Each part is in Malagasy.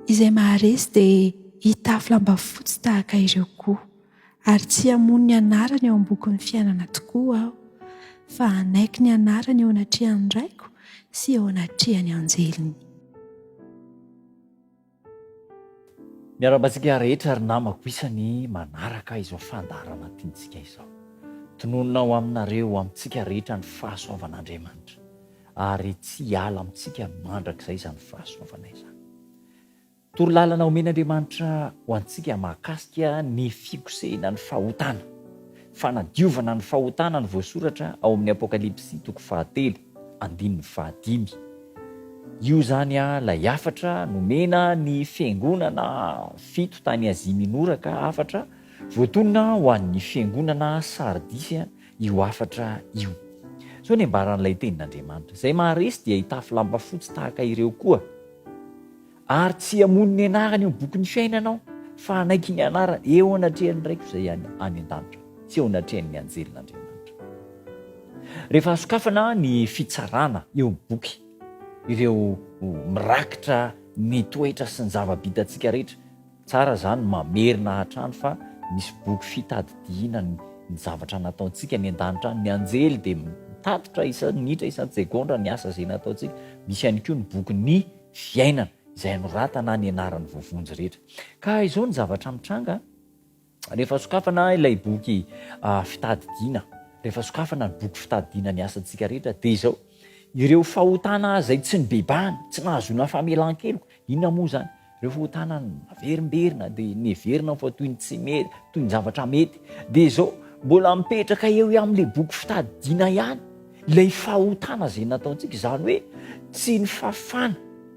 izay maharesy dia hitafy lamba fotsy tahaka ireo koa ary tsy hamono ny anarany eo am-bokin'ny fiainana tokoa aho fa hanaiky ny anarany eo anatrehan'ny raiko sy eo anatrehan'ny anjeliny Miarahaba antsika rehetra ry namako isany manaraka izao fandaharana tiantsika izao. Tononina ho aminareo, ho amintsika rehetra ny fahasoavan'Andriamanitra ary tsy hiala amintsika mandrakizay izany fahasoavana izany. Torolalana omen'Andriamanitra ho antsika mahakasika ny fikosehina ny fahotana, fanadiovana ny fahotana ny voasoratra ao amin'ny Apokalypsy toko fahatelo. andininy fahadimy. Io izany ilay hafatra nomena ny fiangonana fito tany Azia Minora ka hafatra voatonona ho an'ny fiangonana Sardisy io hafatra io. Izao ny ambaran'ilay tenin'Andriamanitra, Izay maharesy dia hitafy lamba fotsy tahaka ireo koa. Ary tsy hamono ny anarany eo amin'ny bokin'ny fiainana aho, fa hanaiky ny anarany eo anatrehan'ny Raiko izay any an-danitra, sy eo anatrehan'ny anjelin'Andriamanitra. Rehefa hasokafana ny fitsarana eo amin'ny boky ireo mirakitra ny toetra sy ny zava-bitantsika rehetra, tsara izany no mamerina hatrany fa misy boky fitadidiana ny zavatra nataontsika any an-danitra any. Ny anjely dia mitatitra isan-minitra, isan-tsegondra ny asa izay nataontsika. Misy ihany koa ny bokin'ny fiainana izay anoratana any anaran'ny voavonjy rehetra. Ka izao ny zavatra mitranga, rehefa sokafana ilay boky fitadidiana, rehefa sokafana ny boky fitadidiana ny asantsika rehetra, dia izao, ireo fahotana izay tsy nibebahana, tsy nahazoana famelan-keloka, inona moa izany? Ireo fahotana naverimberina, dia neverina fa toy ny tsy mety, toy ny zavatra mety, dia izao, mbola mipetraka eo amin'ilay boky fitadidiana ihany, Ilay fahotana izay nataontsika, izany hoe tsy ny fafana,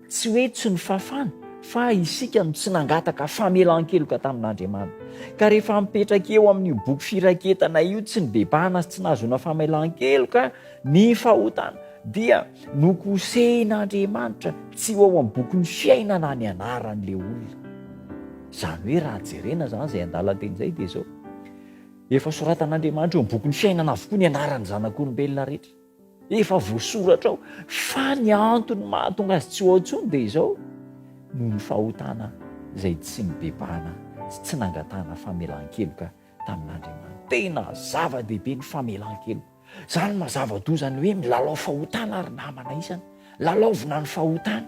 tsy hoe tsy ny fafana, fa isika no tsy nangataka famelan-keloka tamin'Andriamanitra. Ka rehefa mipetraka eo amin'io boky firaketana io, tsy nibebahana sy tsy nahazoana famelan-keloka ny fahotana, dia nokosehin'Andriamanitra tsy ho ao amin'ny bokin'ny fiainana ny anaran'ilay olona. Izany hoe raha jerena izany izay andalan-teny izay dia izao, Efa soratan'Andriamanitra eo amin'ny bokin'ny fiainana avokoa ny anaran'ny zanak'olombelona rehetra. Efa voasoratra ao fa ny antony mahatonga azy tsy ho ao intsony dia izao noho ny fahotana izay tsy nibebahana sy tsy nangatahana famelan-keloka tamin'Andriamanitra. Tena zava-dehibe ny famelan-keloka. Zany mazava doa zany hoe milalao fahotana ry namana isany lalaovina ny fahotana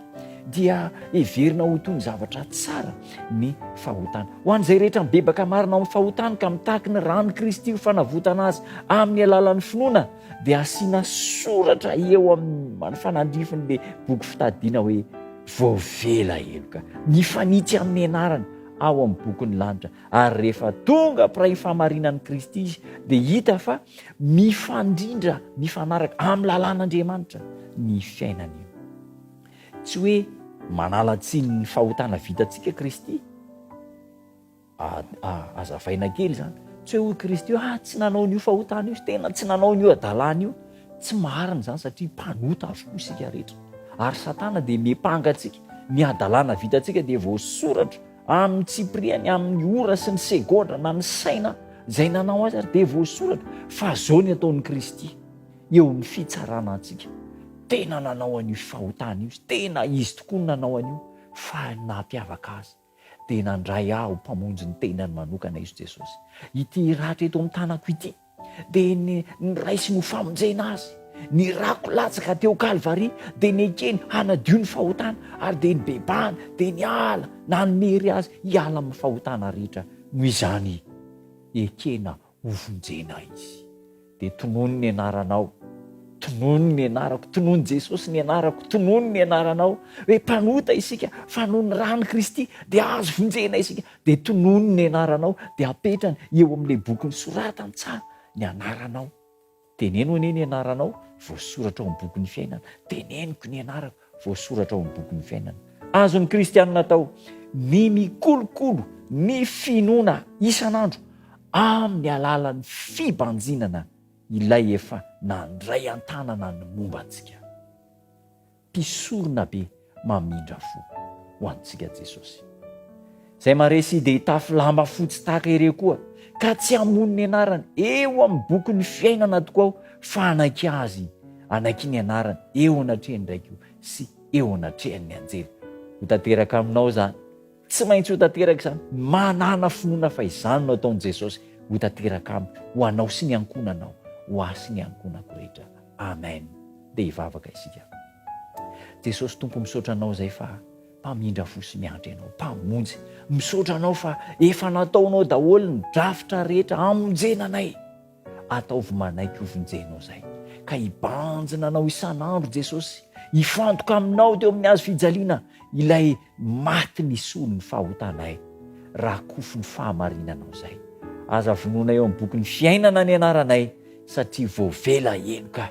dia heverina ho toy ny zavatra tsara ny fahotana ho an'izay rehetra mibebaka marina amin'ny fahotany ka mitaky ny rano kristy ho fanavotana azy amin'ny alalan'ny finoana dia asiana soratra eo amin'ny fanandrifiny le boky fitadidiana hoe voavela heloka ny fanitsy amin'ny anarany ao amin'ny bokin'ny lanitra ary rehefa tonga mpiray fahamarinan'i kristy izy dia hita fa Mifandrindra mifanaraka amin'ny lalàn'Andriamanitra ny fiainana. Tsy hoe manala tsiny ny fahotana vitantsika Kristy. Azavaina kely izany. Tsy hoe hoy Kristy hoe ah tsy nanao an'io fahotana io, tena tsy nanao an'io hadalana io. Tsy marina izany satria mpanota avokoa isika rehetra. Ary Satana dia miampanga antsika. Ny hadalana vitantsika dia voasoratra Amin'ny tsipiriany, amin'ny ora sy ny segondra na ny saina izay nanao azy ary dia voasoratra fa izao ny ataon'i Kristy eo amin'ny fitsarana antsika. Tena nanao an'io fahotana io izy, tena izy tokoa no nanao an'io fa ny naha-mpiavaka azy dia nandray ahy ho mpamonjy ny tenany manokana izy Jesosy. Ity ratra eto amin'ny tanako ity. dia ny niraisiny ho famonjena azy, nirako latsaka teo Kalvary, dia nekeny hanadio ny fahotana, ary dia nibebahana, dia niala, nanome hery azy hiala amin'ny fahotana rehetra. Noho izany, ekena hovonjena izy. Dia tonony ny anaranao, tonony ny anarako, tonony Jesosy ny anarako, tonony ny anaranao, hoe mpanota isika, fa noho ny ran'i Kristy dia azo vonjena isika. dia tonony ny anaranao dia apetrany eo amin'ilay boky nosoratan-tsaha ny anaranao. Teneno anie ny anaranao voasoratra ao amin'ny bokin'ny fiainana. Teneniko ny anarako voasoratra ao amin'ny bokin'ny fiainana. Azon'ny kristianina atao ny mikolokolo ny finoana isan'andro amin'ny alalan'ny fibanjinana ilay efa nandray an-tanana ny momba antsika. Mpisorona be mamindra fo ho antsika Jesosy. Izay maresy dia hitafy lamba fotsy tahaka ireo koa, ka tsy hamono ny anarany eo amin'ny bokin'ny fiainana tokoa aho, fa hanaiky Azy, hanaiky ny anarany eo anatrehan'ny Raiko sy eo anatrehan'ny anjely. Ho tanteraka aminao izany. Tsy maintsy ho tanteraka izany. Manana finoana fa izany no ataon'i Jesosy ho tanteraka amiko, ho anao sy ny ankohonanao, ho ahy sy ny ankohonako rehetra. Amen. Dia hivavaka isika. Jesosy Tompo, misaotra Anao izay fa Mpamindra fo sy miandry Anao, Mpamonjy. Misaotra Anao fa efa nataonao daholo ny drafitra rehetra hamonjena anay. Ataovy manaiky hovonjenao izay, ka hibanjina anao isan'andro Jesosy, hifantoka aminao teo amin'ny hazo fijaliana, ilay maty nisolo ny fahotanay, rakofy ny fahamarinanao izay. Aza vonoina eo amin'ny bokin'ny fiainana ny anaranay, satria voavela henoka.